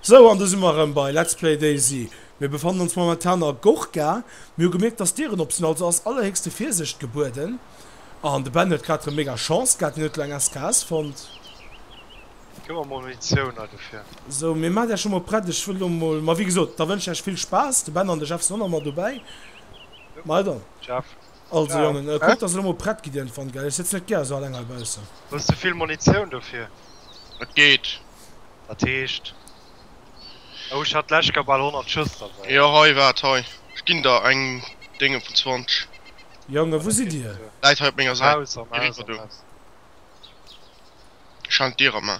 Sou, an do si mer erëm bei Let's Play Daisy. Mir befannen ons momentan a Gorka. Mir hu gemierkt, dass d'Dieren op sinn, also ass allerhéchste Virsicht gebueden. An de Ben huet grad erëm mega Chance gehat, hien huet elo eng SKS fonnt. Ginn mer mol Munitioun hei dofir. Sou, mir maacht Iech emol prett. Ech wëll elo emol, ma wéi gesot, da wënschen ech Iech vill Spaass. De Ben an de Jeff si och nach mat dobäi. Meider. Jeff. Also Jongen, kuck dass elo mol prett gidd iergendwann, gell? Ech sëtz net gär esou alleng heibaussen. Hues de vill Munitioun dofir? Et geet. Dat heescht. Oh, ech hat d'lescht Kéier bal 100 Schëss derbäi. Jo, hei, waart hei. Ech ginn der eng Dénge vun 20. Jongen, wou sidd Dir? Läit hei op menger Säit. Am Haus, am Haus, am Haus. Ech halen d'Dier op, mä.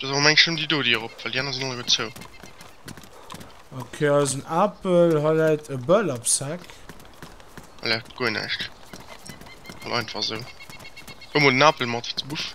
Dass awer mengs nëmm déi do déi erop well déi aner sinn alleguer zou. Ok eisen Apel hei läit e Bölapsack. Hei läit guer näischt well einfach sou. Huel mol den Apel mat du Buff.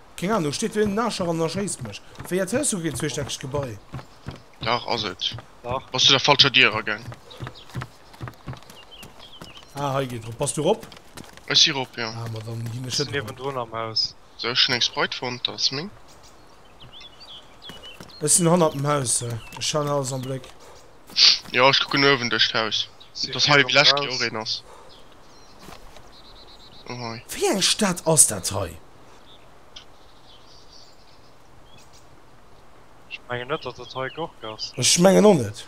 Keng Ahnung, steet do een Nascher an erschéisst mech? Wéi erzielst du keen zweestäckegt Gebai? Dach ass et. Dach. Bass du der falscher Dier eragaang? Ah, hei geet rop. Bass du rop? Ech si rop, jo. Ah, ma dann ginn ech net rop. Sinn niewendrun am Haus. Sou, ech hunn eng Sprite fonnt, dat ass meng. Ech sinn hannert dem Haus. Ech haen alles am Bléck. Jo, ech kucken uewen duerch d'Haus. Sinn Dass hei virun vlächtt jo och Haus. een ass. Oh, hei. Wéi eng Stad ass dat hei? Ech mengen net, datt et hei Gork ass. Ech mengen och net.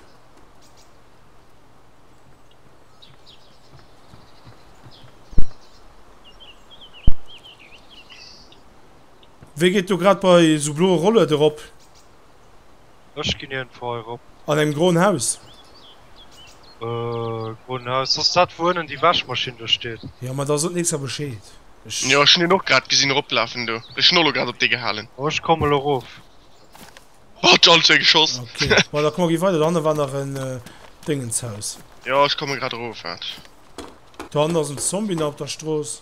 Wee geet do grad bei sou bloe Rollert erop? Ech ginn hien feier rop. An engem groen Haus? Äh, groen Haus ass dat wou ënnen déi Wäschmaschinn do steet? Jo ma da sot nächster Bescheed. Ech. Jo ech hunn hien och grad gesinn eroplafen do. Ech hunn och elo grad op dee gehalen. Oh ech komme lo rof. Wat all zwee geschoss. Ok bon da komm gi weider, do hanne war nach en Déngenshaus. Jo ech komme grad erof, waart. Do hannen ass en Zombie nach op der Strooss.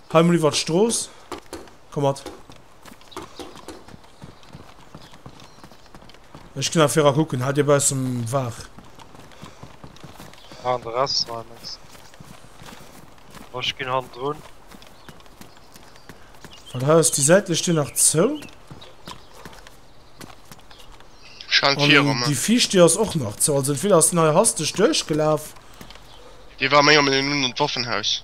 Hei mol iwwert d'Strooss, komm mat. Ech gin nach viraa kucken, haal dir baussen waar. An de Rest hei mengs de? Bon, ech gin hannendrun. Wat heiers déi säitlech Dier nach zou? Schengt viier An déi viischt Dier ass och nach zou, also entweder ass deen hei hasteg duerchgelaaf. Dee war méi am Linn un an d'Waffenhaus.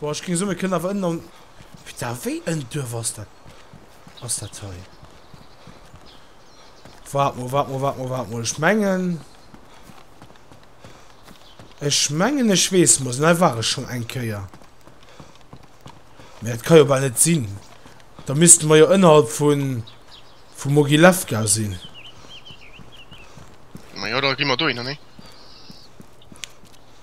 Boah ech ging somme kënnen awer ënnen an wéi da wéi en Duerf ass dat ass dat hei? Wart mol, wart mol, wart mol, wart mol. Ech mengen Ech mengen ech weess mol hei war ech schon eng Kéier. Mä dat kann jo bal net sinn. Da misste mer jo ënnerhalb vun vu Mogilefka sinn. Ma jo da gi mer dohinner, nee?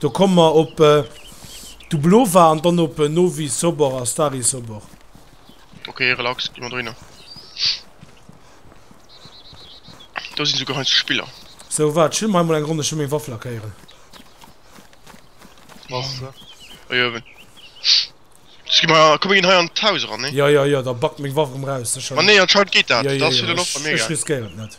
Do komme mer op Dublova an dann op Novi Sobor a Stari Sobor. Ok, relax, gi mer dohinner. Do sinn esou geheizte Spiller. Sou, waart, ech huelen mer hei mol eng Ronn, ech wëll meng Waff lackéieren. Ui, uewen. Ski mer, komm mir ginn hei an d'Haus eran, nee? Jo, jo, jo, da backt meng Waff erëm raus. Ma nee, anscheinend geet dat. Dat ass fir den Off mega. Ech riskéieren et net.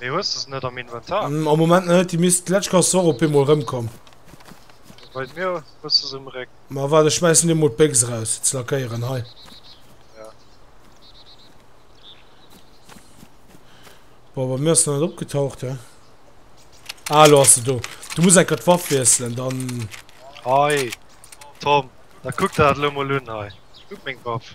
Mee hues de se net am Inventar? Mm, am Moment net, déi misst d'lescht Chance soir op eemol rëmkomm. Bei mir hues de se um Réck. Ma waart, ech schmeissen dir mol d'Béchs raus, ze lackéieren, hei. Ja. Boah, bei mir ass net opgetaucht, he. Ah, lo ass se do. Du muss enker d'Waff wiesselen, dann... Hei, Tom, da kuck der dat lo mol un, hei. Kuck meng Waff.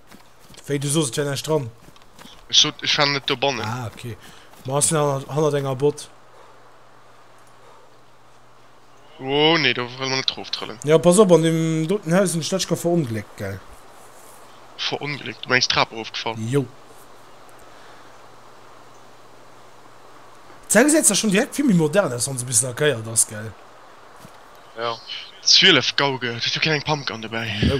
Wéi du soos et wär näischt dran. Ech sot ech war net dobannen. Ah ok. Ma ass en hannert enger Bot? Oh nee do wëll mer net drof trëllen. Jo pass op an deem doten Haus hunn ech d'lescht Kéier verongléckt gell. Verongléckt? Du mengs d'Trap erof gefall? Jo. D'Zell gesäit zwar schonn direkt vill méi modern aus wann se bis lackéiert ass gell. Jo 12 Gauge, hues du keng Pumpgun dobäi? No.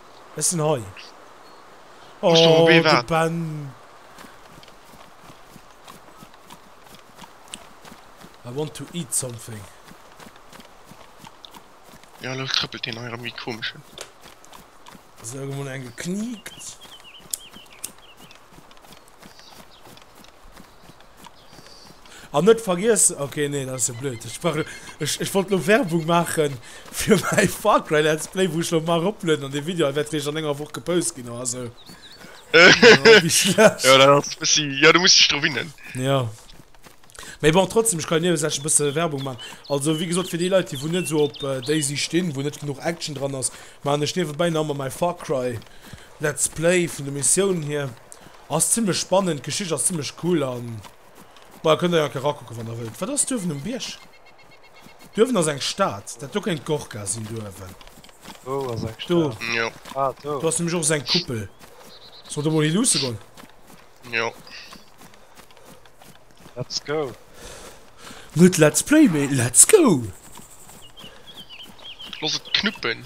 Ech sinn hei. Muss do ebe warden. Oh, de Ben. I want to eat something. Ja, elo trëppelt deen hei rëm wéi komesche. Ass iergendwou eng gekniekt? An net vergiessen, ok nee dat ass jo blöd, ech war ech ech wollt lo Werbung maachen fir mäi Far Cry Let's Play wou ech lo mar roplueden an dee Video hei wäert réischt an enger Woch gepost ginn oder sou. Oh wéi schlecht. Jo dat ass e bëssi, jo du muss dech dru winnen. Jo mee bon trotzdem ech kann jo niewesech e bësse Werbung maachen. Also wéi gesot fir déi Leit déi wou net esou op Daisy stinn, wou net genuch Action dran ass, maachen ech niewebäi nach emol mäi Far Cry Let's Play vun de Missiounen hier. Ass zimlech spannend, d'Geschicht ass zimlech cool an boah kënnt der jo erakucken wann der wëllt. Wat ass duerwen um Bierg? Duerwen ass eng Stad, dat do kéint d'Gorka sinn duerwen. Wou ass eng Stad? Do. Ah do. Do ass nämlech och esou eng Kuppel. Soll do mol hi luusse goen? Jo. Let's go. Net Let's Play mee Let's go! Loss et knuppen.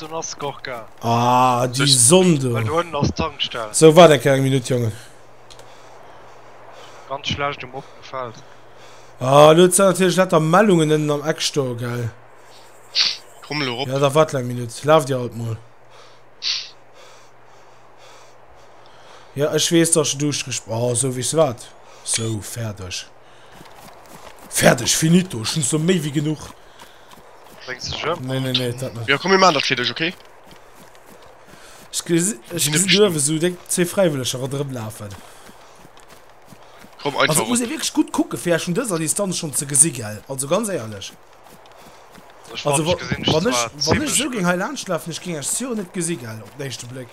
Dann ass Gorka. Ah, die Sonne. du. Weil du unten ass Tankstelle. So, warte eng Minute, Jungen. Ganz schlecht um opten Feld. Ah, du hast natürlich lauter Meldungen innen am Eck stehen, gell? Komm, Lorop. Ja, da warte eine Minute. Lauf dir halt mal. Ja, ich weiß, dass du durchgespielt Oh, ah, so wie es war. So, fertig. Fertig, finito. Ich bin so mehr wie genug. Brengt sech ëm. Nee, nee, nee, dat net. Jo, komm mir maan dat fir dech, ok? Ech ge ech gesi duerwe sou déng zwee Fräiwëlleger ronderëm lafen. Komm einfach erop. Also et muss ee wierklech gutt kucke fir Äech vun dëser Distanz schonn ze gesi gell, also ganz éierlech. Also wa wann ech wann ech esou géing hei laanscht lafen, ech géing Äech sûr net gesi gell op den éischte Bléck.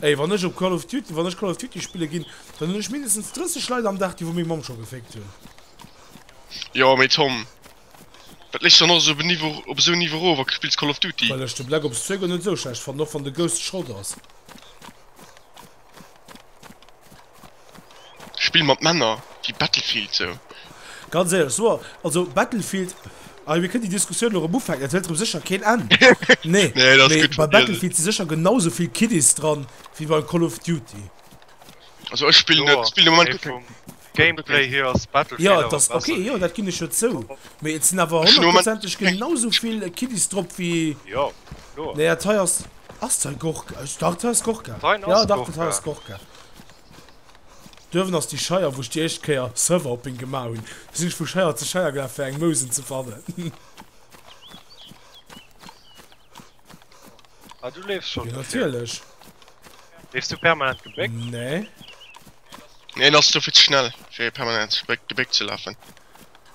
Ey wann ech op call of duty wann ech call of duty spillen gin dann hun ech mindestens 30 Leit am Dag déi wou meng Mamm scho gefickt hun. Jo mee Tom, wat lees du dann och esou op esou en Niveau erof a spills Call of Duty? Well ech de Black Ops 2 guer net esou schlecht fannen, och wann de Ghost Schrott ass. Spill mat Männer wéi Battlefield sou. Ganz éierlech, so also Battlefield, ah jo mir kënnen déi Diskussioun elo erëm ufänken, et hëlt erëm sécher keen Enn, nee, mee bei Battlefield si sécher genau sou vill Kiddies dran wéi bei Call of Duty. Also ech spillen net, spillen de Moment keng. Gameplay hier ass Battlefield awer besser. Jo dat ass ok, jo dat ginn ech jo zou, mee et sinn awer honnertprozenteg genau sou vill Kiddies drop wéi, jo kloer, nee dat hei ass, ass dat hei Gorka, ech dach dat hei ass Gorka, jo dach dat hei ass Gorka. Duerwen ass déi Scheier, wou ech déi éischt Kéier Surfhopping gemaach hunn. Do sinn ech vu Scheier zu Scheier gelaf, fir eng Mousen ze fannen. Ah, du leefs schon. Jo, natierlech. Leefs du permanent gebéckt? Nee. Nee, en ass do vill ze schnell, fir permanent gebéckt ze lafen.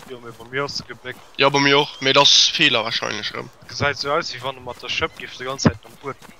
Jo, mee bei mir ass e gebéckt. Jo, bei mir och, mee et ass Feeler warscheinlech erëm. Gesäit sou aus, wéi wann e mat der Schëpp géif de ganz Zäit nom Uetmen.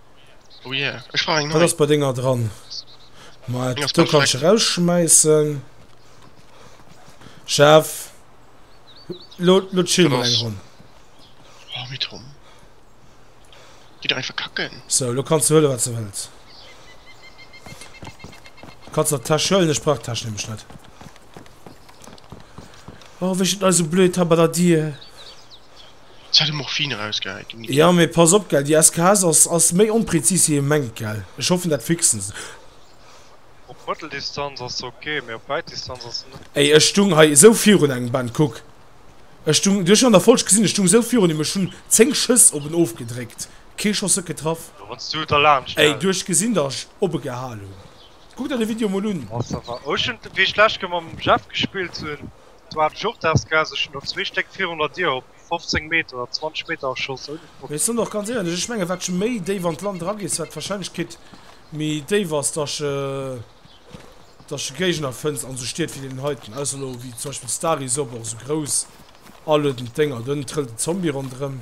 Oh yeah, ich brauch eng neue. Dat ass bei denger dran. Ma do kannst du rausschmeissen. Chef. Lo, lo chill mal eng Ronn. Oh, mit Tom. Geh doch einfach kacken. So, lo kannst du hëlle wat du wëlls. Kannst der Täsch hëllen, ech brauch Täsch nämlech net. Oh, wéi steet eise blöd da bei der Dier? Seit de Morphin erausgehäit gin ass. Jo mee pass op gell, déi SKS ass ass méi onpräzis wéi ee mengt gell. Ech hoffen dat fixen se. Op Mëtteldistanz ass se ok, mee op Wäitdistanz ass se net gutt. Ey ech stung hei esou virun engem Band, kuck ech stung, du hues an der Folg gesin, ech stung esou virun em, ech hun 10 Schëss op en ofgedréckt, kee Schoss huet getraff. Jo wanns du et erlaanscht gell. Ey du hues gesin dat ech opegehal hun, kuck der de Video mol un. Ass awer, oh ech hun wéi ech lech Kéier mam Jeff gespillt hun, D'Dwaan Jurthaasgaass, ech hunn do zwee Stéck virun der Dier op 15 Meter oder 20 Meter erschoss, ouni Problem. Mee ech soen och ganz éierlech, ech menge wat je méi déif an d'Land eragees, wat d'Warscheinlechkeet méi déif ass, dass je dass je Géigner fënns an esou Stied wéi deenen heiten, ausser elo wéi zum Beispill Stary, Sob, och esou grouss aluedend Dénger, do trëllt en Zombie ronderëm.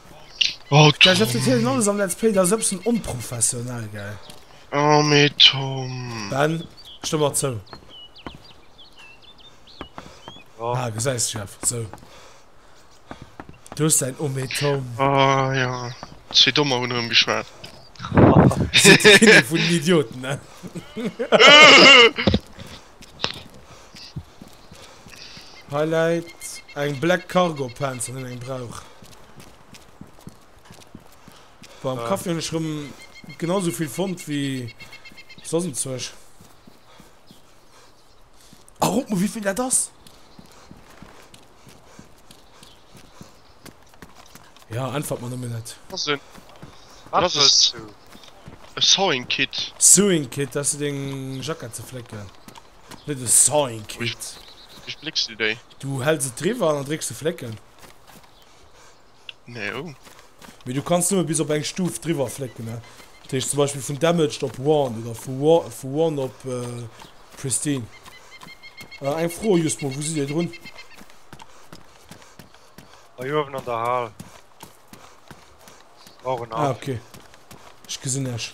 Gleich dat verzielen alles am Let's Play, dat ass e bëssen onprofessionell, gell? Oh mee Tom. Ben, stëmm mer zou. Oh. Ah, gesäis du, Jeff, sou. Du hues dein Oh mee Tom. Ah ja, zwee Dommer hunn erëm geschwat. Vun den Idioten, ne? Hei läit eng Black Cargo Pants an hunn eng brauch. War am Café hunn ech rëm genau sou vill fonnt wéi soss um Zueg. A rot mol wéi vill dat ass! Ja, einfach mal nëmmen net. Was denn? Was ist du? E Sewing Kit. Sewing Kit, dass du deng Jackett ze flécken. Net e Sewing Kit. Wéi flécks du déi? Du häls et driwwer an dann drécks du flécken. Nee oh. Mee du kanns nëmme bis op eng Stuf driwwer flécken ne. Dat heescht zum Beispill vun Damaged op Worn oder vu vu Worn op Pristine. Äh eng Fro just mol, wou sidd dir drun? Hei uewen an der Hal. Brauch en Haff. Ah ok, ech gesinn iech.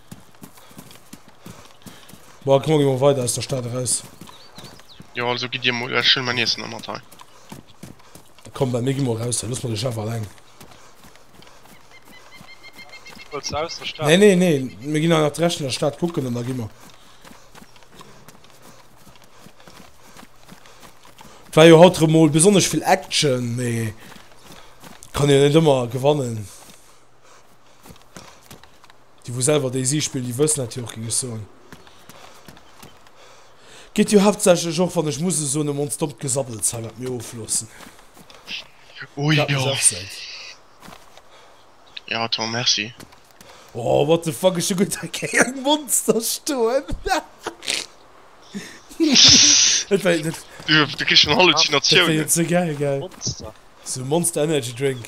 Bon, komm, mir gi mol weider aus der Stad eraus. Jo, also gitt dir mol, ech huelen meng Iessen nach mat hei. Komm, Ben, mir gi mol eraus hei, looss mol de Jeff alleng. Wëlls de aus der Stad? Nee, nee, nee, mir ginn hei nach d'Rescht vun der Stad kucken an da gi mer. Et war jo haut erëm mol besonnesch vill Action, mee kann jo net ëmmer gewannen. Déi wou selwer DayZ spillen, déi wëssen dat jo och, géing ech soen. Geet jo haaptsächlech och, wann ech muss e soen, em ons dommt Gesabbels hei, wat mir ofloossen. Oh Dat jo. muss och sinn. Jo Tom, merci. Oh, what the fuck, ech hu gutt eng Kéier e Monster stoen. Dat war, dat, Du, du kriss schon dat war Halluzinatiounen. jo ze gäil, gell? Monster. Sou e Monster Energy Drink.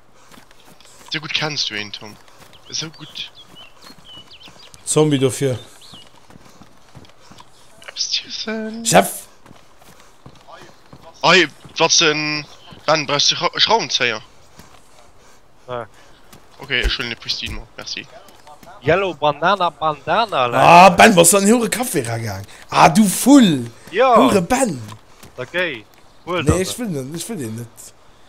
Sou gutt kenns du een Tom, esou gutt. Zombie dofir. Eppes ziessen? Chef! Ei, wat se Ben brauchs du Schra Schraubenzéier? Nee. Ok, ech huelen e Pristine mat, merci. Yellow Banana Bandana läit. Ah Ben, bass du an hire Café era gaang? Ah du Vull! Jo! Hure Ben! Da géi! Huel der se. Nee, ech wëll net, ech wëll deen net.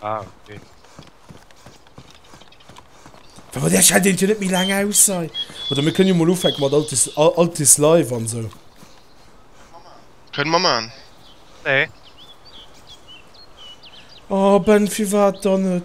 Ah, okay. Aber der scheit den net mi lang aus sei oder mir können mal ufeck mat altes altes live an so können man man nee. oh, ben fir wat dann net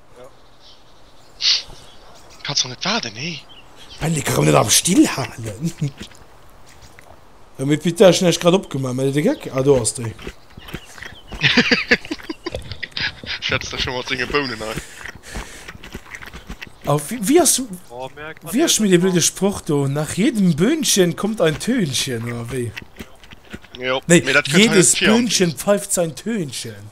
Kanns nach net waarden hee? Well de kann net am Still halen. Jo mee Pit ech hun eischt grad opgemaach mee de Geck, ah do ass de. Schätzt der scho mat senge Bounen hei. A wéi ass wéi ass schonn dee blöde Sproch do, nach jedem Böhnchen kommt ein Tönchen oder wéi? Jo, mee dat kënnt hei net vir am Text. Nee, jedes Böhnchen pfeift sein Tönchen.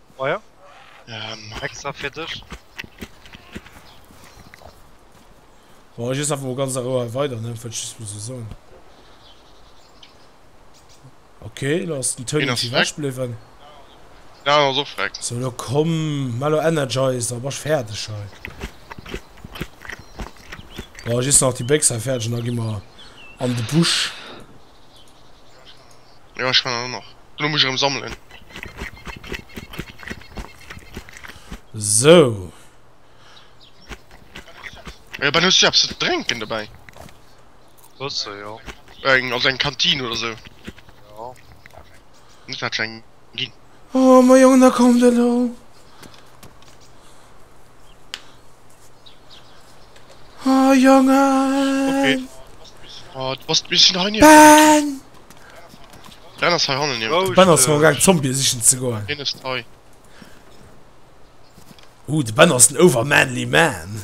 Oh ja. Ähm. Extra fir dech. Bon, ech ess einfach mol ganz a Rou hei weider, ne? Wollt ech just mol sou soen. Ok, elo ass den Tony Wien ass ewech bliwwen. Den Alan ass och weg. Sou, elo komm, maach elo Energizer, da bass ech fäerdeg hei. Bon, just nach déi Bécks hei fäerdeg an da gi mer an de Busch. Jo ech fannen dann och. Elo muss ech erem sammelen. Sou. Ey Ben hues du eppes ze drenken dobäi? Waasser jo. Eng also eng Kantine oder sou? Jo. Muss dat eng gin. Oh ma Jong, da kommt elo! Oh Jongen! Oh, du bass bis hei nierwee. Ben! Ben ass hei hannen nierwee. Ben ass gaang Zombie sichen ze goen. Hien ass hei. Ooh, de Ben ass en overmanly man.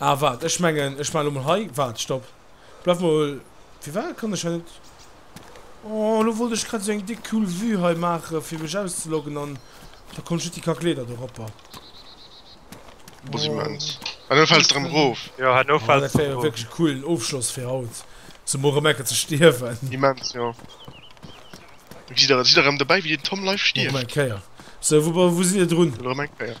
Ah waart ech mengen ech man lo mol hei, waart stop bleif mol firwat kann ech hei net oh lo wollt ech grad sou eng dick cool vue hei maachen fir mech auszeloggen an da konnt ech net déi kack Leeder do ropper Boah si mens. Ah lo fäls de rem rof. Jo hanno Oh fäls dat de wär jo erof. wierklech e coolen Ofschloss fir haut sou mol rem ecken ze stierwen. Immens jo. Gesitt der gesitt der rem dobäi wéi den Tom live Mach mer eng stierft. Kéier sou wou wou sidd der drun? Lo rem eng Kéier.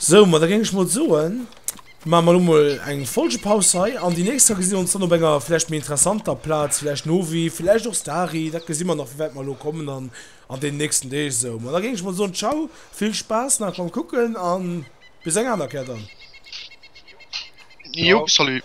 Sou, ma da géing ech mol soen, maache mer elo mol eng Folgepaus hei an déi nächst Kéier gesi mir ons dann op enger vläicht méi interessanter Plaz, vläicht Novi, vläicht och Stari, dat gesi mer nach, wéi wäit mer elo kommen an an deenen nächsten Deeg. Sou, ma da géing ech mol soen, Ciao, vill Spaass nach beim Kucken a bis eng aner Kéier dann. Jo, salut.